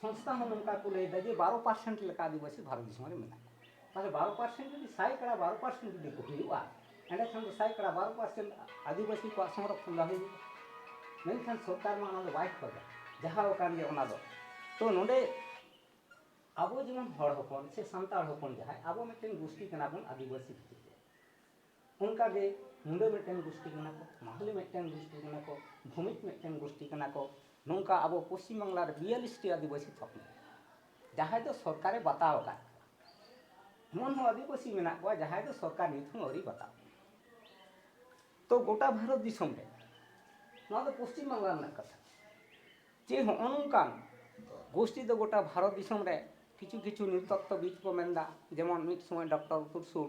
ᱥᱚᱝᱥᱛᱷᱟ ᱦᱚᱸ ᱱᱚᱝᱠᱟ ᱠᱚ ᱞᱟᱹᱭ ᱮᱫᱟ ᱡᱮ ᱵᱟᱨᱚ ᱯᱟᱨᱥᱮᱱᱴ ᱞᱮᱠᱟ ᱟᱹᱫᱤᱵᱟᱹᱥᱤ ᱵᱷᱟᱨᱚᱛ ᱫᱤᱥᱚᱢ ᱨᱮ ᱢᱮᱱᱟᱜ ᱠᱚᱣᱟ ᱛᱟᱦᱚᱞᱮ ᱵᱟᱨᱚ ᱯᱟᱨᱥᱮᱱᱴ ᱡᱩᱫᱤ ᱥᱟᱭ ᱠᱟᱲᱟ ᱵᱟᱨᱚ ᱯᱟᱨᱥᱮᱱᱴ ᱡᱩᱫᱤ ᱠᱚ ᱦᱩᱭᱩᱜᱼᱟ ᱮᱸᱰᱮᱠᱷᱟᱱ ᱫᱚ ᱥᱟᱭ ᱠᱟᱲᱟ ᱵᱟᱨᱚ ᱯᱟᱨᱥᱮᱱᱴ ᱟᱹᱫᱤᱵᱟᱹᱥᱤ ᱠᱚᱣᱟᱜ ᱥᱚᱝᱨᱚᱠᱷᱚᱱ ᱫᱚ ᱦᱩᱭᱩᱜᱼᱟ ᱢᱮᱱᱠᱷᱟᱱ ᱥᱚᱨᱠᱟᱨ ᱢᱟ ᱚᱱᱟ ᱫᱚ ᱵᱟᱭ ᱠᱷᱚᱡᱟ ᱡᱟᱦᱟᱸ ᱠᱟᱱ ᱜᱮ ᱚᱱᱟ ᱫᱚ ᱛᱚ ᱱᱚᱰᱮ ᱟᱵᱚ ᱡᱮᱢᱚᱱ ᱦᱚᱲ ᱦᱚᱯᱚᱱ ᱥᱮ ᱥᱟᱱᱛᱟᱲ ᱦᱚᱯᱚᱱ ᱡᱟᱦᱟᱸᱭ ᱟᱵᱚ ᱢᱤᱫᱴᱮᱱ ᱜᱩᱥᱴᱤ ᱠᱟᱱᱟ ᱵᱚᱱ ᱟᱹᱫᱤᱵᱟᱹᱥᱤ ᱵᱷᱤᱛᱨᱤ ᱨᱮ ᱚᱱᱠᱟ ᱜᱮ ᱢᱩᱰᱟᱹ ᱢᱤᱫᱴᱮᱱ ᱜᱩᱥᱴᱤ ᱠᱟᱱᱟ ᱠᱚ ᱢᱟᱦᱞᱮ ᱢᱤᱫᱴᱮᱱ ᱜᱩᱥᱴᱤ ᱠᱟᱱᱟ ᱠᱚ ᱵᱷᱩᱢᱤᱡ ᱢᱤᱫᱴᱮᱱ ᱜᱩᱥᱴᱤ ᱠᱟᱱᱟ ᱠᱚ ᱱᱚᱝᱠᱟ ᱟᱵᱚ ᱯᱚᱥᱪᱤᱢ ᱵᱟᱝᱞᱟ ᱨᱮ ᱵᱤᱭᱟᱞᱤᱥ ᱴᱤ ᱟᱹᱫᱤᱵᱟᱹᱥᱤ ᱛᱷᱚᱠ ᱢᱮᱱᱟᱜᱼᱟ ᱡᱟᱦᱟᱸᱭ ᱫᱚ ᱥᱚᱨᱠᱟᱨᱮ ᱵᱟᱛᱟᱣ ᱟᱠᱟᱫ ᱮᱢᱚᱱ ᱦᱚᱸ ᱟᱹᱫᱤᱵᱟᱹᱥᱤ ᱢᱮᱱᱟᱜ ᱠᱚᱣᱟ ᱡᱟᱦᱟᱸᱭ ᱫᱚ ᱥᱚᱨᱠᱟᱨ ᱱᱤᱛ ᱦᱚᱸ ᱟᱹᱣᱨᱤ ᱵᱟᱛᱟᱣ ᱛᱚ ᱜᱚᱴᱟ ᱵᱷᱟᱨᱚᱛ ᱫᱤᱥᱚᱢ ᱨᱮ ᱱᱚᱣᱟ ᱫᱚ ᱯᱚᱥᱪᱤᱢ ᱵᱟᱝᱞᱟ ᱨᱮᱱᱟᱜ ᱠᱟᱛᱷᱟ ᱡᱮ ᱦᱚᱸᱜᱼᱚ ᱱᱚᱝᱠᱟᱱ ᱜᱳᱥᱴᱤ ᱫᱚ ᱜᱚᱴᱟ ᱵᱷᱟᱨᱚᱛ ᱫᱤᱥᱚᱢ ᱨᱮ ᱠᱤᱪᱷᱩ ᱠᱤᱪᱷᱩ ᱱᱤᱛᱚᱛᱛᱚ ᱵᱤᱫ ᱠᱚ ᱢᱮᱱᱫᱟ ᱡᱮᱢᱚᱱ ᱢᱤᱫ ᱥᱚᱢᱚᱭ ᱰᱚᱠᱴᱚᱨ ᱛᱩᱨᱥᱩᱞ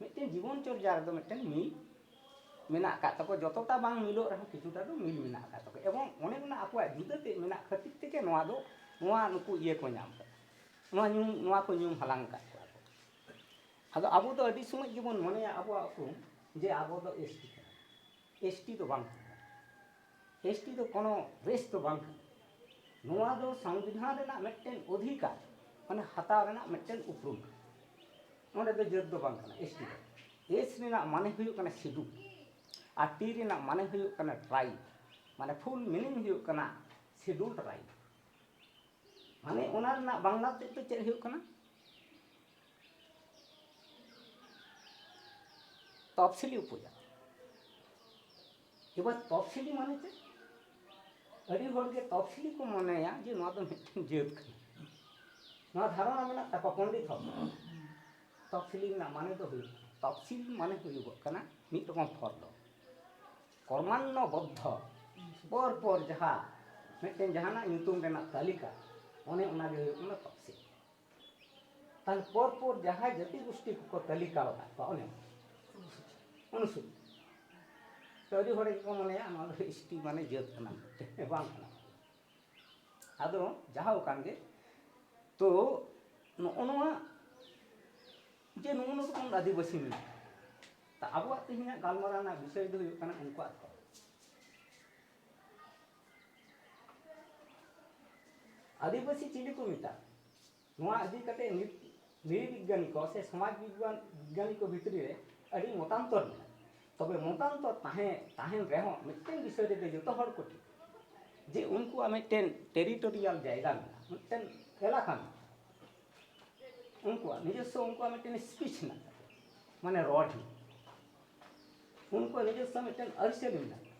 ᱢᱤᱫᱴᱮᱱ ᱡᱤᱵᱚᱱ ᱪᱚᱨᱡᱟ ᱨᱮᱫᱚ ᱢᱤᱫᱴᱮᱱ ᱢᱤᱞ ᱢᱮᱱᱟᱜ ᱟᱠᱟᱫ ᱛᱟᱠᱚ ᱡᱚᱛᱚᱴᱟ ᱵᱟᱝ ᱢᱤᱞᱚᱜ ᱨᱮᱦᱚᱸ ᱠᱤᱪᱷᱩᱴᱟ ᱫᱚ ᱢᱤᱞ ᱢᱮᱱᱟᱜ ᱟᱠᱟᱫ ᱛᱟᱠᱚ ᱮᱵᱚᱝ ᱚᱱᱮ ᱚᱱᱟ ᱟᱠᱚᱣᱟᱜ ᱡᱩᱫᱟᱹ ᱛᱮᱫ ᱢᱮᱱᱟᱜ ᱠᱷᱟᱹᱛᱤᱨ ᱛᱮᱜᱮ ᱱᱚᱣᱟ ᱫᱚ ᱱᱚᱣᱟ ᱱᱩᱠᱩ ᱤᱭᱟᱹ ᱠᱚ ᱧᱟᱢ ᱟᱠᱟᱫᱟ ᱱᱚᱣᱟ ᱧᱩᱢ ᱱᱚᱣᱟ ᱠᱚ ᱧᱩᱢ ᱦᱟᱞᱟᱝ ᱟᱠᱟᱫ ᱠᱚᱣᱟ ᱠᱚ ᱟᱫᱚ ᱟᱵᱚ ᱫᱚ ᱟᱹᱰᱤ ᱥᱚᱢᱚᱭ ᱜᱮᱵᱚᱱ ᱢᱚᱱᱮᱭᱟ ᱟᱵᱚᱣᱟᱜ ᱩᱯᱨᱩᱢ ᱡᱮ ᱟᱵᱚ ᱫᱚ ᱮᱥ ᱴᱤ ᱠᱟᱱᱟ ᱮᱥ ᱴᱤ ᱫᱚ ᱵᱟᱝ ᱠᱟᱱᱟ ᱮᱥ ᱴᱤ ᱫᱚ ᱠᱳᱱᱳ ᱨᱮᱥ ᱫᱚ ᱵᱟᱝ ᱠᱟᱱᱟ ᱱᱚᱣᱟ ᱫᱚ ᱥᱚᱝᱵᱤᱫᱷᱟᱱ ᱨᱮᱱᱟᱜ ᱢᱤᱫᱴᱮᱱ ᱚᱫᱷᱤᱠᱟᱨ ᱢᱟᱱᱮ ᱦᱟᱛᱟᱣ ᱨᱮᱱᱟᱜ ᱢᱤᱫᱴᱮᱱ ᱩᱯᱨᱩᱢ ᱱᱚᱰᱮ ᱫᱚ ᱡᱟᱹᱛ ᱫᱚ ᱵᱟᱝ ᱠᱟᱱᱟ ᱮᱥ ᱴᱤ ᱫᱚ ᱮᱥ ᱨᱮᱱᱟᱜ ᱢᱟᱱᱮ ᱦᱩᱭᱩᱜ ᱠᱟᱱᱟ ᱥᱤᱰᱩ ᱟᱨ ᱴᱤ ᱨᱮᱱᱟᱜ ᱢᱟᱱᱮ ᱦᱩᱭᱩᱜ ᱠᱟᱱᱟ ᱴᱨᱟᱭᱤᱵ ᱢᱟᱱᱮ ᱯᱷᱩᱞ ᱢᱤᱱᱤᱝ ᱦᱩᱭᱩᱜ ᱠᱟᱱᱟ ᱥᱤᱰᱩᱞ ᱴᱨᱟᱭᱤᱵ ᱢᱟᱱᱮ ᱚᱱᱟ ᱨᱮᱱᱟᱜ ᱵᱟᱝᱞᱟ ᱛᱮᱫ ᱫᱚ ᱪᱮᱫ ᱦᱩᱭᱩᱜ ᱠᱟᱱᱟ ᱛᱚᱯᱥᱤᱞᱤ ᱩᱯᱚᱡᱟᱛᱤ ᱮᱵᱟᱨ ᱛᱚᱯᱥᱤᱞᱤ ᱢᱟᱱᱮ ᱪᱮᱫ ᱟᱹᱰᱤ ᱦᱚᱲᱜᱮ ᱛᱚᱯᱥᱤᱞᱤ ᱠᱚ ᱢᱚᱱᱮᱭᱟ ᱡᱮ ᱱᱚᱣᱟ ᱫᱚ ᱢᱤᱫᱴᱮᱱ ᱡᱟᱹᱛ ᱠᱟᱱᱟ ᱱᱚᱣᱟ ᱫᱷᱟᱨᱚᱱᱟ ᱢᱮᱱᱟᱜ ᱛᱟᱠᱚᱣᱟ ᱯᱚᱱᱰᱤᱛ ᱦᱚᱲ ᱛᱚᱯᱥᱤᱞᱤ ᱨᱮᱱᱟᱜ ᱢᱟᱱᱮ ᱫᱚ ᱦᱩᱭᱩᱜ ᱛᱚᱯᱥᱤᱞ ᱢᱟᱱᱮ ᱦᱩᱭᱩᱜᱚᱜ ᱠᱟᱱᱟ ᱢᱤᱫ ᱨᱚᱠᱚᱢ ᱯᱷᱚᱨ ᱫᱚ ᱠᱚᱨᱢᱟᱱᱱᱚ ᱵᱚᱫᱽᱫᱷᱚ ᱯᱚᱨ ᱯᱚᱨ ᱡᱟᱦᱟᱸ ᱢᱤᱫᱴᱮᱱ ᱡᱟᱦᱟᱱᱟᱜ ᱧᱩᱛᱩᱢ ᱨᱮᱱᱟᱜ ᱛᱟᱹᱞᱤᱠᱟ ᱚᱱᱮ ᱚᱱᱟᱜᱮ ᱦᱩᱭᱩᱜ ᱠᱟᱱᱟ ᱛᱚᱯᱥᱤᱞ ᱛᱟᱦᱚᱞᱮ ᱯᱚᱨ ᱯᱚᱨ ᱡᱟᱦᱟᱸᱭ ᱡᱟᱹᱛᱤ ᱜᱩᱥᱴᱤ ᱠᱚᱠᱚ ᱛᱟᱹᱞᱤᱠᱟ ᱟᱠᱟᱫ ᱠᱚᱣᱟ ᱚᱱᱮ ᱚᱱᱩᱥᱩᱪᱤ ᱛᱚ ᱟᱹᱰᱤ ᱦᱚᱲ ᱜᱮᱠᱚ ᱢᱚᱱᱮᱭᱟ ᱱᱚᱣᱟ ᱫᱚ ᱮᱥ ᱴᱤ ᱢᱟᱱᱮ ᱡᱟᱹᱛ ᱠᱟᱱᱟ ᱵᱟᱝ ᱠᱟᱱᱟ ᱟᱫᱚ ᱡᱟᱦᱟᱸ ᱠᱟᱱ ᱜᱮ ᱛᱚ ᱱᱚᱜᱼᱚ ᱱᱚᱣᱟ ᱡᱮ ᱱᱚᱜᱼᱚ ᱱᱚᱣᱟ ᱨᱚᱠᱚᱢ ᱟᱹᱫᱤᱵᱟᱹᱥᱤ ᱢᱮᱱᱟᱜᱼᱟ ᱛᱟ ᱟᱵᱚᱣᱟᱜ ᱛᱮᱦᱮᱧᱟᱜ ᱜᱟᱞᱢᱟᱨᱟᱣ ᱨᱮᱱᱟᱜ ᱵᱤᱥᱚᱭ ᱫᱚ ᱦᱩᱭᱩᱜ ᱠᱟᱱᱟ ᱩᱱᱠᱩᱣᱟᱜ ᱫᱷᱚᱨᱚᱢ ᱟᱹᱫᱤᱵᱟᱹᱥᱤ ᱪᱤᱞᱤ ᱠᱚ ᱢᱮᱛᱟᱜ ᱱᱚᱣᱟ ᱤᱫᱤ ᱠᱟᱛᱮ ᱱᱤᱛ ᱱᱤᱨᱤ ᱵᱤᱜᱽᱜᱟᱱᱤ ᱠᱚ ᱥᱮ ᱥᱚᱢᱟᱡᱽ ᱵᱤᱜᱽᱜᱟᱱ ᱵᱤᱜᱽᱜᱟᱱᱤ ᱠᱚ ᱵᱷᱤᱛᱨᱤ ᱨᱮ ᱟᱹᱰᱤ ᱢᱚᱛᱟᱱᱛᱚᱨ ᱢᱮᱱᱟᱜᱼᱟ ᱛᱚᱵᱮ ᱢᱚᱛᱟᱱᱛᱚᱨ ᱛᱟᱦᱮᱸ ᱛᱟᱦᱮᱱ ᱨᱮᱦᱚᱸ ᱢᱤᱫᱴᱮᱱ ᱵᱤᱥᱚᱭ ᱨᱮᱫᱚ ᱡᱚᱛᱚ ᱦᱚᱲ ᱠᱚ ᱴᱷᱤᱠ ᱡᱮ ᱩᱱᱠᱩᱣᱟᱜ ᱢᱤᱫᱴᱮᱱ ᱴᱮᱨᱤᱴᱳᱨᱤᱭᱟᱞ ᱡᱟᱭᱜᱟ ᱢᱮᱱᱟᱜᱼᱟ ᱢᱤᱫᱴᱮᱱ ᱮᱞᱟᱠᱟ ᱢᱮᱱᱟᱜᱼᱟ ᱩᱱᱠᱩᱣᱟᱜ ᱱᱤᱡᱚᱥᱥᱚ ᱩᱱᱠᱩᱣᱟᱜ ᱢᱤᱫᱴᱮᱱ ᱥᱯᱤᱪ ᱢᱮᱱᱟᱜ ᱛᱟᱠᱚᱣᱟ ᱢᱟᱱᱮ ᱨᱚᱲ ᱦᱮᱱᱟᱜ ᱩᱱᱠᱩᱣᱟᱜ ᱱᱤᱡᱚᱥᱥᱚ ᱢᱤᱫᱴᱮᱱ ᱟᱹᱨᱤᱪᱟᱹᱞᱤ ᱢᱮᱱᱟᱜᱼᱟ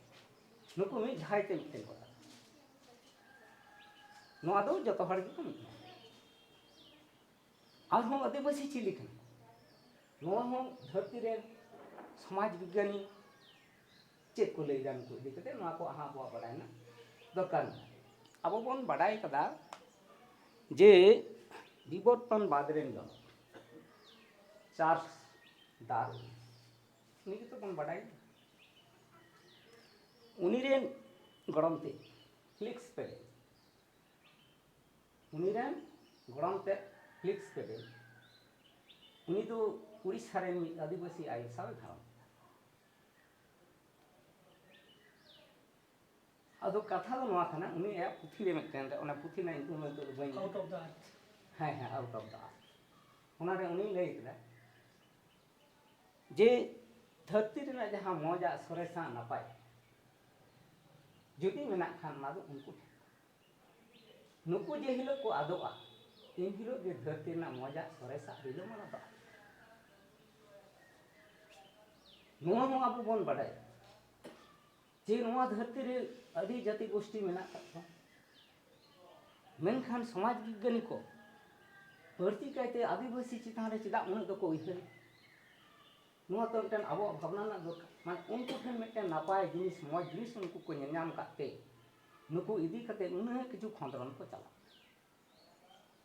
ᱱᱩᱠᱩ ᱢᱤᱫ ᱡᱷᱟᱭ ᱛᱮ ᱢᱤᱫᱴᱮᱱ ᱠᱚ ᱛᱟᱦᱮᱸ ᱱᱚᱣᱟ ᱫᱚ ᱡᱚᱛᱚ ᱦᱚᱲ ᱜᱮᱠᱚ ᱢᱤᱫ ᱟᱨᱦᱚᱸ ᱟᱹᱫᱤᱵᱟᱹᱥᱤ ᱪᱤᱞᱤ ᱠᱟᱱᱟ ᱱᱚᱣᱟ ᱦᱚᱸ ᱫᱷᱟᱹᱨᱛᱤ ᱨᱮᱱ ᱥᱚᱢᱟᱡᱽ ᱵᱤᱜᱽᱜᱟᱱᱤ ᱪᱮᱫ ᱠᱚ ᱞᱟᱹᱭᱫᱟ ᱱᱩᱠᱩ ᱤᱫᱤ ᱠᱟᱛᱮ ᱱᱚᱣᱟ ᱠᱚ ᱟᱦᱟᱸ ᱟᱵᱚᱣᱟᱜ ᱵᱟᱰᱟᱭ ᱨᱮᱱᱟᱜ ᱫᱚᱨᱠᱟᱨ ᱢᱮᱱᱟᱜᱼᱟ ᱟᱵᱚ ᱵᱚᱱ ᱵᱟᱰᱟᱭ ᱠᱟᱫᱟ ᱡᱮ ᱵᱤᱵᱚᱨᱛᱚᱱ ᱵᱟᱫᱽ ᱨᱮᱱ ᱫᱚ ᱪᱟᱥ ᱫᱟᱨ ᱩᱱᱤ ᱜᱮᱛᱚ ᱵᱚᱱ ᱵᱟᱰᱟᱭ ᱩᱱᱤ ᱨᱮᱱ ᱜᱚᱲᱚᱢ ᱛᱮ ᱯᱷᱞᱤᱠᱥ ᱯᱮᱰᱮᱞ ᱩᱱᱤ ᱨᱮᱱ ᱜᱚᱲᱚᱢ ᱛᱮ ᱯᱷᱞᱤᱠᱥ ᱯᱮᱰᱮᱞ ᱩᱱᱤ ᱫᱚ ᱩᱲᱤᱥᱥᱟ ᱨᱮᱱ ᱢᱤᱫ ᱟᱹᱫᱤᱵᱟᱹᱥᱤ ᱟᱭᱳ ᱥᱟᱶ ᱜᱷᱟᱨᱚᱸᱡᱽ ᱟᱫᱚ ᱠᱟᱛᱷᱟ ᱫᱚ ᱱᱚᱣᱟ ᱠᱟᱱᱟ ᱩᱱᱤ ᱟᱭᱟᱜ ᱯᱩᱛᱷᱤ ᱨᱮ ᱢᱤᱫᱴᱮᱱ ᱨᱮ ᱚᱱᱟ ᱯᱩᱛᱷᱤ ᱨᱮᱱᱟᱜ ᱧᱩᱛᱩᱢ ᱱᱤᱛᱚᱜ ᱫᱚ ᱵᱟᱹᱧ ᱟᱣᱩᱴ ᱚᱯᱷ ᱫᱟ ᱟᱨᱛᱷ ᱦᱮᱸ ᱦᱮᱸ ᱟᱣᱩᱴ ᱚᱯᱷ ᱫᱟ ᱟᱨᱛᱷ ᱚᱱᱟᱨᱮ ᱩᱱᱤ ᱞᱟᱹᱭ ᱠᱮᱫᱟ ᱡᱮ ᱫᱷᱟᱹᱨᱛᱤ ᱨᱮᱱᱟᱜ ᱡᱟᱦᱟᱸ ᱢᱚᱡᱟᱜ ᱥᱚᱨᱮᱥᱟᱜ ᱱᱟᱯᱟᱭ ᱡᱩᱫᱤ ᱢᱮᱱᱟᱜ ᱠᱷᱟᱱ ᱚᱱᱟ ᱫᱚ ᱩᱱᱠᱩ ᱴᱷᱮᱱ ᱱᱩᱠᱩ ᱡᱮ ᱦᱤᱞᱳᱜ ᱠᱚ ᱟᱫᱚᱜᱼᱟ ᱮᱱ ᱦᱤᱞᱳᱜ ᱜᱮ ᱫᱷᱟᱹᱨᱛᱤ ᱨᱮᱱᱟᱜ ᱢᱚᱡᱟᱜ ᱥᱚᱨᱮᱥᱟᱜ ᱨᱤᱞᱟᱹᱢᱟᱞᱟ ᱫᱚ ᱱᱚᱣᱟ ᱦᱚᱸ ᱟᱵᱚ ᱵᱚᱱ ᱵᱟᱰᱟᱭᱟ ᱡᱮ ᱱᱚᱣᱟ ᱫᱷᱟᱹᱨᱛᱤ ᱨᱮ ᱟᱹᱰᱤ ᱡᱟᱹᱛᱤ ᱜᱳᱥᱴᱤ ᱢᱮᱱᱟᱜ ᱟᱠᱟᱫ ᱠᱚᱣᱟ ᱢᱮᱱᱠᱷᱟᱱ ᱥᱚᱢᱟᱡᱽ ᱵᱤᱜᱽᱜᱟᱱᱤ ᱠᱚ ᱵᱟᱹᱲᱛᱤ ᱠᱟᱭᱛᱮ ᱟᱹᱫᱤᱵᱟᱹᱥᱤ ᱪᱮᱛᱟᱱ ᱨᱮ ᱪᱮᱫᱟᱜ ᱩᱱᱟᱹᱜ ᱫᱚᱠᱚ ᱩᱭᱦᱟᱹᱨ ᱱᱚᱣᱟ ᱫᱚ ᱢᱤᱫᱴᱮᱱ ᱟᱵᱚᱣᱟᱜ ᱵᱷᱟᱵᱽᱱᱟ ᱨᱮᱱᱟᱜ ᱫᱚᱨᱠᱟᱨ ᱢᱟᱱᱮ ᱩᱱᱠᱩ ᱴᱷᱮᱱ ᱢᱤᱫᱴᱮᱱ ᱱᱟᱯᱟᱭ ᱡᱤᱱᱤᱥ ᱢᱚᱡᱽ ᱡᱤᱱᱤᱥ ᱩᱱᱠᱩ ᱠᱚ ᱧᱮᱞ ᱧᱟᱢ ᱟᱠᱟᱫ ᱛᱮ ᱱᱩᱠᱩ ᱤᱫᱤ ᱠᱟᱛᱮ ᱩᱱᱟᱹᱜ ᱠᱤᱪᱷᱩ ᱠᱷᱚᱸᱫᱽᱨᱚᱱ ᱠᱚ ᱪᱟᱞᱟᱜ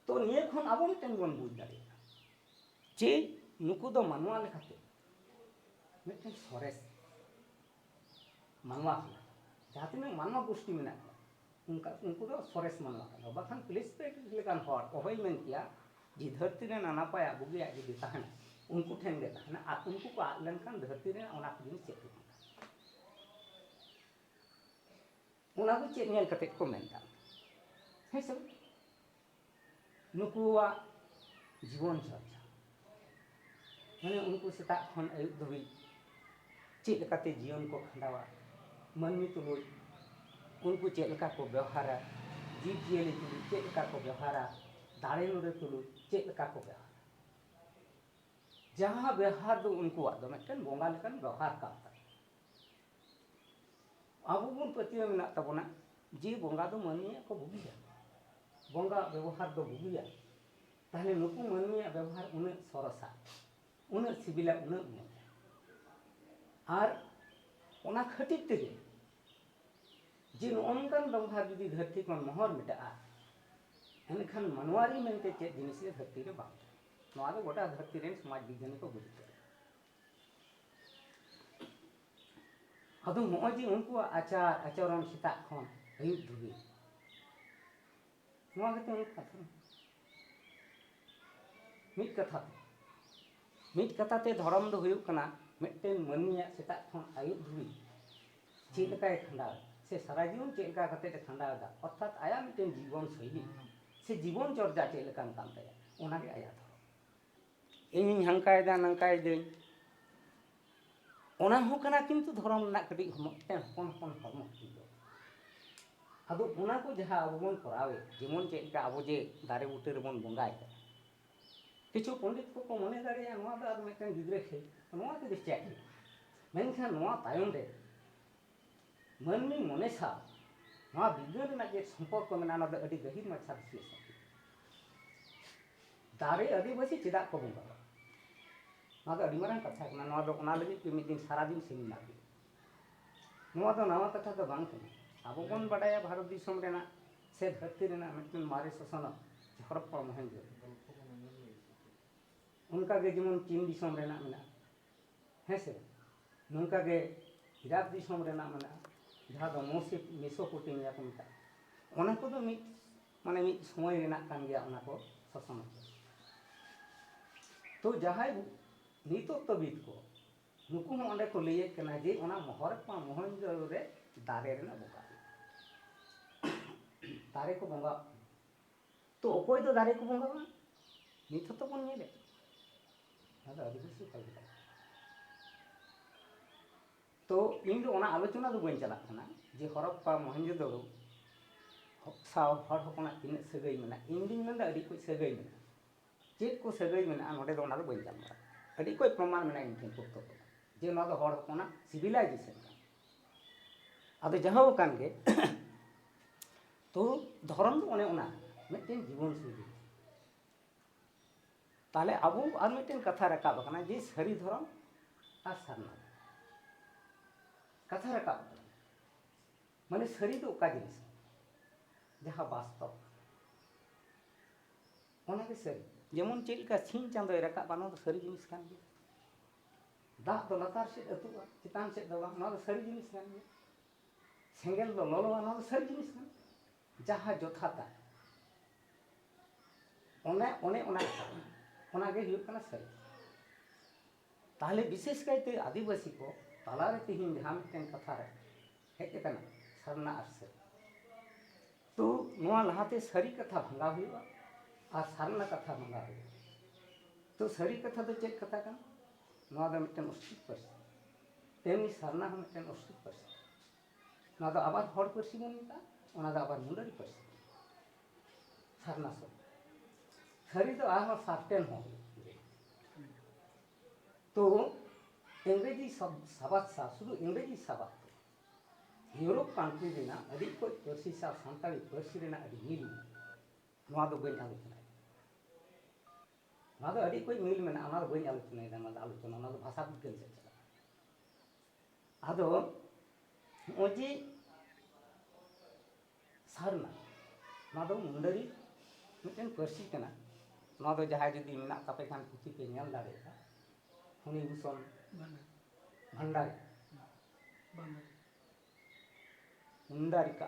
ᱛᱚ ᱱᱤᱭᱟᱹ ᱠᱷᱚᱱ ᱟᱵᱚ ᱢᱤᱫᱴᱮᱱ ᱵᱚᱱ ᱵᱩᱡᱽ ᱫᱟᱲᱮᱭᱟᱜᱼᱟ ᱡᱮ ᱱᱩᱠᱩ ᱫᱚ ᱢᱟᱱᱣᱟ ᱞᱮᱠᱟᱛᱮ ᱢᱤᱫᱴᱮᱱ ᱥᱚᱨᱮᱥ ᱢᱟᱱᱣᱟ ᱠᱟᱱᱟ ᱡᱟᱦᱟᱸ ᱛᱤᱱᱟᱹᱜ ᱢᱟᱱᱣᱟ ᱜᱩᱥᱴᱤ ᱢᱮᱱᱟᱜ ᱠᱚᱣᱟ ᱚᱱᱠᱟ ᱩᱱᱠᱩ ᱫᱚ ᱥᱚᱨᱮᱥ ᱢᱟᱱᱣᱟ ᱠᱟᱱᱟ ᱵᱟᱠᱷᱟᱱ ᱯᱞᱮᱥᱯᱮᱴ ᱞᱮᱠᱟᱱ ᱦᱚᱲ ᱚᱦᱚᱭ ᱢᱮᱱ ᱠᱮᱭᱟ ᱡᱮ ᱫᱷᱟᱹᱨᱛᱤ ᱨᱮ ᱱᱟᱱᱟᱯᱟᱭᱟᱜ ᱵᱩᱜᱤᱭᱟᱜ ᱡᱩᱫᱤ ᱛᱟᱦᱮᱱᱟ ᱩᱱᱠᱩ ᱴᱷᱮᱱ ᱜᱮ ᱛᱟᱦᱮᱱᱟ ᱟᱨ ᱩᱱᱠᱩ ᱠᱚ ᱟᱫ ᱞᱮᱱᱠᱷᱟᱱ ᱫᱷᱟᱹᱨᱛᱤ ᱨᱮ ᱚᱱᱟ ᱠᱚ ᱡᱤᱱᱤᱥ ᱪᱮᱫ ᱜᱮ ᱵᱟᱝ ᱛᱟᱦᱮᱱᱟ ᱚᱱᱟ ᱫᱚ ᱪᱮᱫ ᱧᱮᱞ ᱠᱟᱛᱮ ᱠᱚ ᱢᱮᱱᱫᱟ ᱦᱮᱸ ᱥᱮ ᱱᱩᱠᱩᱣᱟᱜ ᱡᱤᱵᱚᱱ ᱪᱚᱨᱪᱟ ᱢᱟᱱᱮ ᱩᱱᱠᱩ ᱥᱮᱛᱟᱜ ᱠᱷᱚᱱ ᱟᱹᱭᱩᱵ ᱫᱷᱟᱹᱵᱤᱡ ᱪᱮᱫ ᱞᱮᱠᱟᱛᱮ ᱡᱤᱭᱚᱱ ᱠᱚ ᱠᱷᱟᱸᱰᱟᱣᱟ ᱢᱟᱹᱱᱢᱤ ᱛᱩᱞᱩᱡ ᱩᱱᱠᱩ ᱪᱮᱫ ᱞᱮᱠᱟ ᱠᱚ ᱵᱮᱣᱦᱟᱨᱟ ᱡᱤᱵᱽ ᱡᱤᱭᱟᱹᱞᱤ ᱛᱩᱞᱩᱡ ᱪᱮᱫ ᱞᱮᱠᱟ ᱠᱚ ᱵᱮᱣᱦᱟᱨᱟ ᱫᱟᱨᱮ ᱱᱟᱹᱲᱤ ᱛᱩᱞᱩᱡ ᱪᱮᱫ ᱞᱮᱠᱟ ᱠᱚ ᱵᱮᱣᱦᱟᱨᱟ ᱡᱟᱦᱟᱸ ᱵᱮᱣᱦᱟᱨ ᱫᱚ ᱩᱱᱠᱩᱣᱟᱜ ᱫᱚ ᱢᱤᱫᱴᱮᱱ ᱵᱚᱸᱜᱟ ᱞᱮᱠᱟᱱ ᱵᱮᱣᱦᱟᱨ ᱠᱟᱱ ᱛᱟᱠᱚᱣᱟ ᱟᱵᱚ ᱵᱚᱱ ᱯᱟᱹᱛᱭᱟᱹᱣ ᱢᱮᱱᱟᱜ ᱛᱟᱵᱚᱱᱟ ᱡᱮ ᱵᱚᱸᱜᱟ ᱫᱚ ᱢᱟᱹᱱᱢᱤᱭᱟᱜ ᱠᱚ ᱵᱩᱜᱤᱭᱟ ᱵᱚᱸᱜᱟ ᱵᱮᱵᱚᱦᱟᱨ ᱫᱚ ᱵᱩᱜᱤᱭᱟ ᱛᱟᱦᱞᱮ ᱱᱩᱠᱩ ᱢᱟᱹᱱᱢᱤᱭᱟᱜ ᱵᱮᱵᱚᱦᱟᱨ ᱩᱱᱟᱹᱜ ᱥᱚᱨᱚᱥᱟ ᱩᱱᱟᱹᱜ ᱥᱤᱵᱤᱞᱟ ᱩᱱᱟᱹᱜ ᱢᱚᱡᱽ ᱟᱨ ᱚᱱᱟ ᱠᱷᱟᱹᱛᱤᱨ ᱛᱮᱜᱮ ᱡᱮ ᱱᱚᱜᱼᱚ ᱱᱚᱝᱠᱟᱱ ᱵᱮᱵᱚᱦᱟᱨ ᱡᱩᱫᱤ ᱫᱷᱟᱹᱨᱛᱤ ᱠᱷᱚᱱ ᱢᱚᱦᱚᱨ ᱢᱮᱴᱟᱜᱼᱟ ᱮᱱᱠᱷᱟᱱ ᱢᱟᱱᱣᱟᱨᱤ ᱢᱮᱱᱛᱮ ᱪᱮᱫ ᱡᱤᱱᱤᱥ ᱜᱮ ᱫᱷᱟᱹᱨᱛᱤ ᱨᱮ ᱵᱟᱝ ᱛᱟᱦᱮᱱᱟ ᱱᱚᱣᱟ ᱫᱚ ᱜᱚᱴᱟ ᱫᱷᱟᱹᱨᱛᱤ ᱨᱮᱱ ᱥᱚᱢᱟᱡᱽ ᱵᱤᱜᱽᱜᱟᱱᱤ ᱠᱚ ᱵᱩᱡᱽ ᱠᱮᱫᱟ ᱟᱫᱚ ᱱᱚᱜᱼᱚᱭ ᱡᱮ ᱩᱱᱠᱩᱣᱟᱜ ᱟᱪᱟᱨ ᱟᱪᱚᱨᱚᱱ ᱥᱮᱛᱟᱜ ᱠᱷᱚᱱ ᱟᱹᱭᱩᱵ ᱫᱷᱟᱹᱵᱤᱡ ᱱᱚᱣᱟ ᱜᱮᱛᱚ ᱢᱤᱫ ᱠᱟᱛᱷᱟ ᱢᱤᱫ ᱠᱟᱛᱷᱟ ᱛᱮ ᱢᱤᱫ ᱠᱟᱛᱷᱟ ᱛᱮ ᱫᱷᱚᱨᱚᱢ ᱫᱚ ᱦᱩᱭᱩᱜ ᱠᱟᱱᱟ ᱢᱤᱫᱴᱮᱱ ᱢᱟᱹᱱᱢᱤᱭᱟᱜ ᱥᱮᱛᱟᱜ ᱠᱷᱚᱱ ᱟᱹᱭᱩᱵ ᱫᱷᱟᱹᱵᱤᱡ ᱪᱮᱫ ᱞᱮᱠᱟᱭ ᱠᱷᱟᱸᱰᱟᱣ ᱥᱮ ᱥᱟᱨᱟ ᱡᱤᱭᱚᱱ ᱪᱮᱫ ᱞᱮᱠᱟ ᱠᱟᱛᱮ ᱮ ᱠᱷᱟᱸᱰᱟᱣᱮᱫᱟ ᱚᱨᱛᱷᱟᱛ ᱟᱭᱟᱜ ᱢᱤᱫᱴᱮᱱ ᱡᱤᱵᱚᱱ ᱥᱳᱭᱞᱤ ᱥᱮ ᱡᱤᱵᱚᱱ ᱪᱚᱨᱡᱟ ᱪᱮᱫ ᱞᱮᱠᱟᱱ ᱠᱟᱱ ᱛᱟᱭᱟ ᱚᱱᱟᱜᱮ ᱟᱭᱟᱜ ᱫᱷᱚᱨᱚᱢ ᱤᱧᱤᱧ ᱦᱟᱱᱠᱟᱭᱮᱫᱟ ᱱᱟᱝᱠᱟᱭᱮᱫᱟᱹᱧ ᱚᱱᱟ ᱦᱚᱸ ᱠᱟᱱᱟ ᱠᱤᱱᱛᱩ ᱫᱷᱚᱨᱚᱢ ᱨᱮᱱᱟᱜ ᱠᱟᱹᱴᱤᱡ ᱦᱚᱢᱚᱜ ᱢᱤᱫᱴᱮᱱ ᱦᱚᱯᱚᱱ ᱦᱚᱯᱚᱱ ᱦᱚᱲᱢᱚ ᱦᱟᱹᱴᱤᱧ ᱫᱚ ᱟᱫᱚ ᱚᱱᱟ ᱠᱚ ᱡᱟᱦᱟᱸ ᱟᱵᱚ ᱵᱚᱱ ᱠᱚᱨᱟᱣᱮᱫ ᱡᱮᱢᱚᱱ ᱪᱮᱫ ᱞᱮᱠᱟ ᱟᱵᱚ ᱡᱮ ᱫᱟᱨᱮ ᱵᱩᱴᱟᱹ ᱨᱮᱵᱚᱱ ᱵᱚᱸᱜᱟᱭᱮᱫᱟ ᱠᱤᱪᱷᱩ ᱯᱚᱱᱰᱤᱛ ᱠᱚᱠᱚ ᱢᱚᱱᱮ ᱫᱟᱲᱮᱭᱟᱜᱼᱟ ᱱᱚᱣᱟ ᱫᱚ ᱟᱨ ᱢᱤᱫᱴᱮᱱ ᱜᱤᱫᱽᱨᱟᱹ ᱠᱷᱮᱞ ᱱᱚᱣᱟ ᱛᱮᱫᱚ ᱪᱮᱫ ᱦᱩᱭᱩᱜᱼᱟ ᱢᱮᱱᱠᱷᱟᱱ ᱱᱚᱣᱟ ᱛᱟᱭᱚᱢ ᱨᱮ ᱢᱟᱹᱱᱢᱤ ᱢᱚᱱᱮ ᱥᱟᱶ ᱱᱚᱣᱟ ᱵᱤᱜᱽᱜᱟᱹᱱ ᱨᱮᱱᱟᱜ ᱪᱮᱫ ᱥᱚᱢᱯᱚᱨᱠᱚ ᱢᱮᱱᱟᱜᱼᱟ ᱚᱱᱟ ᱫᱚ ᱟᱹᱰᱤ ᱜᱟᱹᱦᱤᱨ ᱢᱟᱪᱷᱟ ᱵᱤᱥᱞᱮᱥᱚᱱ ᱫᱟᱨᱮ ᱟᱹᱫᱤᱵᱟᱹᱥᱤ ᱪᱮᱫᱟᱜ ᱠᱚ ᱵᱚᱸᱜᱟᱣᱟ ᱱᱚᱣᱟ ᱫᱚ ᱟᱹᱰᱤ ᱢᱟᱨᱟᱝ ᱠᱟᱛᱷᱟ ᱠᱟᱱᱟ ᱱᱚᱣᱟ ᱫᱚ ᱚᱱᱟ ᱞᱟᱹᱜᱤᱫ ᱛᱮ ᱢᱤᱫ ᱫᱤᱱ ᱥᱟᱨᱟ ᱫᱤᱱ ᱥᱮᱢᱤᱱᱟᱨ ᱦᱩᱭᱩᱜᱼᱟ ᱱᱚᱣᱟ ᱫᱚ ᱱᱟᱣᱟ ᱠᱟᱛᱷᱟ ᱫᱚ ᱵᱟᱝ ᱠᱟᱱᱟ ᱟᱵᱚ ᱵᱚᱱ ᱵᱟᱰᱟᱭᱟ ᱵᱷᱟᱨᱚᱛ ᱫᱤᱥᱚᱢ ᱨᱮᱱᱟᱜ ᱥᱮ ᱫᱷᱟᱹᱨᱛᱤ ᱨᱮᱱᱟᱜ ᱢᱤᱫᱴᱮᱱ ᱢᱟᱨᱮ ᱥᱚᱥᱚᱱᱚᱜ ᱦᱚᱨᱚᱯᱯᱟ ᱢᱚᱦᱮᱱᱡᱳ ᱚᱱᱠᱟᱜᱮ ᱡᱮᱢᱚᱱ ᱪᱤᱱ ᱫᱤᱥᱚᱢ ᱨᱮᱱᱟᱜ ᱢᱮᱱᱟᱜᱼᱟ ᱦᱮᱸᱥᱮ ᱱᱚᱝᱠᱟ ᱜᱮ ᱤᱨᱟᱠ ᱫᱤᱥᱚᱢ ᱨᱮᱱᱟᱜ ᱢᱮᱱᱟᱜᱼᱟ ᱡᱟᱦᱟᱸ ᱫᱚ ᱢᱚᱥᱤᱯ ᱢᱮᱥᱳᱯᱳᱴᱮᱢᱤᱭᱟ ᱠᱚ ᱢᱮᱛᱟᱜᱼᱟ ᱚᱱᱟ ᱠᱚᱫᱚ ᱢᱤᱫ ᱢᱟᱱᱮ ᱢᱤᱫ ᱥᱚᱢᱚᱭ ᱨᱮᱱᱟᱜ ᱠᱟᱱ ᱜᱮᱭᱟ ᱚᱱᱟ ᱠᱚ ᱥᱟᱥᱚᱱ ᱛᱚ ᱡᱟᱦᱟᱸᱭ ᱱᱤᱛᱚᱜ ᱛᱚᱵᱤᱫ ᱠᱚ ᱱᱩᱠᱩ ᱦᱚᱸ ᱚᱸᱰᱮ ᱠᱚ ᱞᱟᱹᱭᱮᱫ ᱠᱟᱱᱟ ᱡᱮ ᱚᱱᱟ ᱢᱚᱦᱚᱨᱯᱟ ᱢᱚᱦᱚᱱᱡᱚᱫᱟᱲᱳ ᱨᱮ ᱫᱟᱨᱮ ᱨᱮᱱᱟᱜ ᱵᱚᱸᱜᱟ ᱫᱟᱨᱮ ᱠᱚ ᱵᱚᱸᱜᱟ ᱛᱚ ᱚᱠᱚᱭ ᱫᱚ ᱫᱟᱨᱮ ᱠᱚ ᱵᱚᱸᱜᱟᱣᱟ ᱱᱤᱛ ᱦᱚᱸᱛᱚ ᱵᱚᱱ ᱧᱮᱞᱮᱫ ᱚᱱᱟ ᱫᱚ ᱟᱹᱫᱤᱵᱟᱹᱥᱤ ᱚᱠᱟ ᱞᱮᱠᱟ ᱛᱚ ᱤᱧ ᱫᱚ ᱚᱱᱟ ᱟᱞᱳᱪᱚᱱᱟ ᱫᱚ ᱵᱟᱹᱧ ᱪᱟᱞᱟᱜ ᱠᱟᱱᱟ ᱡᱮ ᱦᱚᱨᱚᱯᱯᱟ ᱢᱚᱦᱮᱱᱡᱳᱫᱚᱲᱳ ᱥᱟᱶ ᱦᱚᱲ ᱦᱚᱯᱚᱱᱟᱜ ᱛᱤᱱᱟᱹᱜ ᱥᱟᱹᱜᱟᱹᱭ ᱢᱮᱱᱟᱜᱼᱟ ᱤᱧ ᱫᱩᱧ ᱢᱮᱱᱫᱟ ᱟᱹᱰᱤ ᱠᱚᱡ ᱥᱟᱹᱜᱟᱹᱭ ᱢᱮᱱᱟᱜᱼᱟ ᱪᱮᱫ ᱠᱚ ᱥᱟᱹᱜᱟᱹᱭ ᱢᱮᱱᱟᱜᱼᱟ ᱱᱚᱰᱮ ᱫᱚ ᱚᱱᱟ ᱫᱚ ᱵᱟᱹᱧ ᱜᱟᱞᱢᱟᱨᱟᱜ ᱟᱹᱰᱤ ᱠᱚᱡ ᱯᱨᱚᱢᱟᱱ ᱢᱮᱱᱟᱜᱼᱟ ᱤᱧ ᱴᱷᱮᱱ ᱯᱩᱥᱛᱚᱠ ᱨᱮ ᱡᱮ ᱱᱚᱣᱟ ᱫᱚ ᱦᱚᱲ ᱦᱚᱯᱚᱱᱟᱜ ᱥᱤᱵᱤᱞᱟᱭᱡᱮᱥᱚᱱ ᱠᱟᱱᱟ ᱟᱫᱚ ᱡᱟᱦᱳ ᱠᱟᱱ ᱜᱮ ᱛᱚ ᱫᱷᱚᱨᱚᱢ ᱫᱚ ᱚᱱᱮ ᱚᱱᱟ ᱢᱤᱫᱴᱮᱱ ᱡᱤᱵᱚᱱ ᱥᱚᱝᱜᱤ ᱛᱟᱦᱚᱞᱮ ᱟᱵᱚ ᱟᱨ ᱢᱤᱫᱴᱮᱱ ᱠᱟᱛᱷᱟ ᱨᱟᱠᱟᱵ ᱟᱠᱟᱱᱟ ᱡᱮ ᱥᱟᱹᱨᱤ ᱫᱷᱚᱨᱚᱢ ᱟᱨ ᱥᱟᱨᱱᱟ ᱠᱟᱛᱷᱟ ᱨᱟᱠᱟᱵ ᱟᱠᱟᱱᱟ ᱢᱟᱱᱮ ᱥᱟᱹᱨᱤ ᱫᱚ ᱚᱠᱟ ᱡᱤᱱᱤᱥ ᱡᱟᱦᱟᱸ ᱵᱟᱥᱛᱚᱵ ᱚᱱᱟᱜᱮ ᱥᱟᱹᱨᱤ ᱡᱮᱢᱚᱱ ᱪᱮᱫ ᱞᱮᱠᱟ ᱥᱤᱧ ᱪᱟᱸᱫᱚᱭ ᱨᱟᱠᱟᱵ ᱚᱱᱟ ᱫᱚ ᱥᱟᱹᱨᱤ ᱡᱤᱱᱤᱥ ᱠᱟᱱ ᱜᱮᱭᱟ ᱫᱟᱜ ᱫᱚ ᱞᱟᱛᱟᱨ ᱥᱮᱫ ᱟᱹᱛᱩᱜᱼᱟ ᱪᱮᱛᱟᱱ ᱥᱮᱫ ᱫᱚ ᱵᱟᱝ ᱚᱱᱟ ᱫᱚ ᱥᱟᱹᱨᱤ ᱡᱤᱱᱤᱥ ᱠᱟᱱ ᱜᱮᱭᱟ ᱥᱮᱸᱜᱮᱞ ᱫᱚ ᱞᱚᱞᱚᱣᱟ ᱱᱚᱣᱟ ᱫᱚ ᱥᱟᱹᱨᱤ ᱡᱤᱱᱤᱥ ᱠᱟᱱᱟ ᱡᱟᱦᱟᱸ ᱡᱚᱛᱷᱟᱛᱟ ᱚᱱᱮ ᱚᱱᱮ ᱚᱱᱟ ᱚᱱᱟᱜᱮ ᱦᱩᱭᱩᱜ ᱠᱟᱱᱟ ᱥᱟᱹᱨᱤ ᱛᱟᱦᱞᱮ ᱵᱤᱥᱮᱥ ᱠᱟᱭᱛᱮ ᱟᱹᱫᱤᱵᱟᱹᱥᱤ ᱠᱚ ᱛᱟᱞᱟᱨᱮ ᱛᱮᱦᱮᱧ ᱡᱟᱦᱟᱸ ᱢᱤᱫᱴᱮᱱ ᱠᱟᱛᱷᱟ ᱨᱮ ᱦᱮᱡ ᱟᱠᱟᱱᱟ ᱥᱟᱨᱱᱟ ᱟᱨ ᱥᱟᱹᱨᱤ ᱛᱚ ᱱᱚᱣᱟ ᱞᱟᱦᱟᱛᱮ ᱥᱟᱹᱨᱤ ᱠᱟᱛᱷᱟ ᱵᱷᱟᱸᱜᱟᱣ ᱦᱩᱭᱩᱜᱼᱟ ᱟᱨ ᱥᱟᱨᱱᱟ ᱠᱟᱛᱷᱟ ᱵᱷᱟᱸᱜᱟᱣ ᱦᱩᱭᱩᱜᱼᱟ ᱛᱚ ᱥᱟᱹᱨᱤ ᱠᱟᱛᱷᱟ ᱫᱚ ᱪᱮᱫ ᱠᱟᱛᱷᱟ ᱠᱟᱱᱟ ᱱᱚᱣᱟ ᱫᱚ ᱢᱤᱫᱴᱮᱱ ᱚᱥᱛᱷᱤᱨ ᱯᱟᱹᱨᱥᱤ ᱛᱮᱢᱱᱤ ᱥᱟᱨᱱᱟ ᱦᱚᱸ ᱢᱤᱫᱴᱮᱱ ᱚᱥᱴᱨᱤᱠ ᱯᱟᱹᱨᱥᱤ ᱱᱚᱣᱟ ᱫᱚ ᱟᱵᱟᱨ ᱦᱚᱲ ᱯᱟᱹᱨᱥᱤ ᱵᱚᱱ ᱢᱮᱛᱟᱜᱼᱟ ᱚᱱᱟ ᱫᱚ ᱟᱵᱟᱨ ᱢᱩᱰᱟᱹᱨᱤ ᱯᱟᱹᱨᱥᱤ ᱥᱟᱨᱱᱟ ᱥᱚᱵᱽᱫᱚ ᱥᱟᱹᱨᱤ ᱫᱚ ᱟᱨᱦᱚᱸ ᱥᱟᱨᱴᱮᱱ ᱦᱚᱸ ᱛᱚ ᱤᱝᱨᱮᱡᱤ ᱥᱟᱵᱟᱫ ᱥᱟᱶ ᱥᱩᱫᱷᱩ ᱤᱝᱨᱮᱡᱤ ᱥᱟᱵᱟᱫ ᱤᱭᱩᱨᱳᱯ ᱠᱟᱱᱴᱨᱤ ᱨᱮᱱᱟᱜ ᱟᱹᱰᱤ ᱠᱚᱡ ᱯᱟᱹᱨᱥᱤ ᱥᱟᱶ ᱥᱟᱱᱛᱟᱲᱤ ᱯᱟᱹᱨᱥᱤ ᱨᱮᱱᱟᱜ ᱟᱹᱰᱤ ᱢᱤᱞ ᱱᱚᱣᱟ ᱫᱚ ᱵᱟᱹᱧ ᱟᱞᱳᱪᱚᱱᱟᱭᱟ ᱱᱚᱣᱟ ᱫᱚ ᱟᱹᱰᱤ ᱠᱚᱡ ᱢᱤᱞ ᱢᱮᱱᱟᱜᱼᱟ ᱚᱱᱟ ᱫᱚ ᱵᱟᱹᱧ ᱟᱞᱳᱪᱚᱱᱟᱭᱮᱫᱟ ᱚᱱᱟ ᱫᱚ ᱟᱞᱳᱪᱚᱱᱟ ᱚᱱᱟ ᱫᱚ ᱵᱷᱟᱥᱟ ᱵᱤᱜᱽᱜᱟᱱ ᱥᱮᱫ ᱪᱟᱞᱟᱜᱼᱟ ᱟᱫᱚ ᱱᱚᱜᱼᱚᱭ ᱡᱮ ᱥᱟᱨᱱᱟ ᱱᱚᱣᱟ ᱫᱚ ᱢᱩᱱᱰᱟᱹᱨᱤ ᱢᱤᱫᱴᱮᱱ ᱯᱟᱹᱨᱥᱤ ᱠᱟᱱᱟ ᱱᱚᱣᱟ ᱫᱚ ᱡᱟᱦᱟᱸᱭ ᱡᱩᱫᱤ ᱢᱮᱱᱟᱜ ᱛᱟᱯᱮ ᱠᱷᱟᱱ ᱯᱩᱛᱷᱤ ᱯᱮ ᱧᱮᱞ ᱫᱟᱲᱮᱭᱟᱜᱼᱟ ᱩᱱᱤ ᱵᱷᱩᱥᱚᱱ ᱵᱷᱟᱱᱰᱟᱨᱤ ᱢᱩᱱᱰᱟᱨᱤᱠᱟ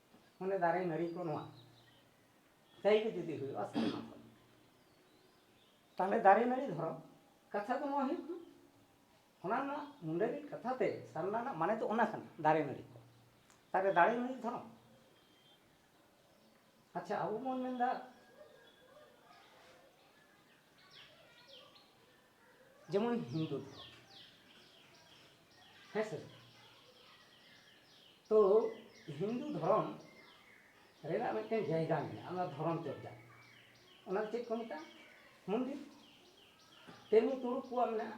ᱢᱟᱱᱮ ᱫᱟᱨᱮ ᱱᱟᱹᱲᱤ ᱠᱚ ᱱᱚᱣᱟ ᱛᱟᱭ ᱜᱮ ᱡᱩᱫᱤ ᱦᱩᱭᱩᱜᱼᱟ ᱥᱮᱨᱢᱟ ᱠᱷᱚᱱ ᱛᱟᱦᱚᱞᱮ ᱫᱟᱨᱮ ᱱᱟᱹᱲᱤ ᱫᱷᱚᱨᱚᱢ ᱠᱟᱛᱷᱟ ᱫᱚ ᱱᱚᱣᱟ ᱦᱩᱭᱩᱜ ᱠᱟᱱᱟ ᱚᱱᱟ ᱨᱮᱱᱟᱜ ᱢᱩᱸᱰᱟᱹ ᱨᱤᱱ ᱠᱟᱛᱷᱟ ᱛᱮ ᱥᱟᱨᱱᱟ ᱨᱮᱱᱟᱜ ᱢᱟᱱᱮ ᱫᱚ ᱚᱱᱟ ᱠᱟᱱᱟ ᱫᱟᱨᱮ ᱱᱟᱹᱲᱤ ᱠᱚ ᱛᱟᱦᱚᱞᱮ ᱫᱟᱨᱮ ᱱᱟᱹᱲᱤ ᱫᱷᱚᱨᱚᱢ ᱟᱪᱪᱷᱟ ᱟᱵᱚ ᱵᱚᱱ ᱢᱮᱱᱫᱟ ᱡᱮᱢᱚᱱ ᱦᱤᱱᱫᱩ ᱫᱷᱚᱨᱚᱢ ᱦᱮᱸ ᱥᱮ ᱛᱚ ᱦᱤᱱᱫᱩ ᱫᱷᱚᱨᱚᱢ ᱨᱮᱱᱟᱜ ᱢᱤᱫᱴᱮᱱ ᱡᱟᱭᱜᱟ ᱢᱮᱱᱟᱜᱼᱟ ᱚᱱᱟ ᱫᱷᱚᱨᱚᱢ ᱪᱚᱨᱪᱟ ᱚᱱᱟ ᱪᱮᱫ ᱠᱚ ᱢᱮᱛᱟᱜᱼᱟ ᱢᱚᱱᱫᱤᱨ ᱛᱮᱢᱱᱤ ᱛᱩᱲᱩᱠ ᱠᱚᱣᱟᱜ ᱢᱮᱱᱟᱜᱼᱟ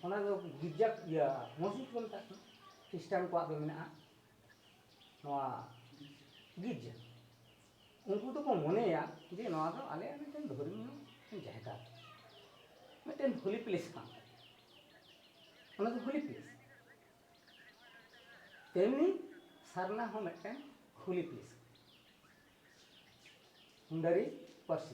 ᱚᱱᱟ ᱫᱚ ᱜᱤᱨᱡᱟ ᱤᱭᱟᱹ ᱢᱚᱥᱡᱤᱫ ᱠᱚ ᱢᱮᱛᱟᱜ ᱠᱟᱱᱟ ᱠᱷᱨᱤᱥᱴᱟᱱ ᱠᱚᱣᱟᱜ ᱫᱚ ᱢᱮᱱᱟᱜᱼᱟ ᱱᱚᱣᱟ ᱜᱤᱨᱡᱟ ᱩᱱᱠᱩ ᱫᱚᱠᱚ ᱢᱚᱱᱮᱭᱟ ᱡᱮ ᱱᱚᱣᱟ ᱫᱚ ᱟᱞᱮᱭᱟᱜ ᱢᱤᱫᱴᱮᱱ ᱫᱷᱚᱨᱢᱤᱭᱚ ᱡᱟᱭᱜᱟ ᱢᱤᱫᱴᱮᱱ ᱦᱳᱞᱤ ᱯᱞᱮᱥ ᱠᱟᱱ ᱛᱟᱞᱮᱭᱟ ᱚᱱᱟ ᱫᱚ ᱦᱳᱞᱤ ᱯᱞᱮᱥ ᱛᱮᱢᱱᱤ ᱥᱟᱨᱱᱟ ᱦᱚᱸ ᱢᱤᱫᱴᱮᱱ ᱦᱳᱞᱤ ᱯᱞᱮᱥ ᱢᱩᱱᱰᱟᱨᱤ ᱯᱟᱹᱨᱥᱤ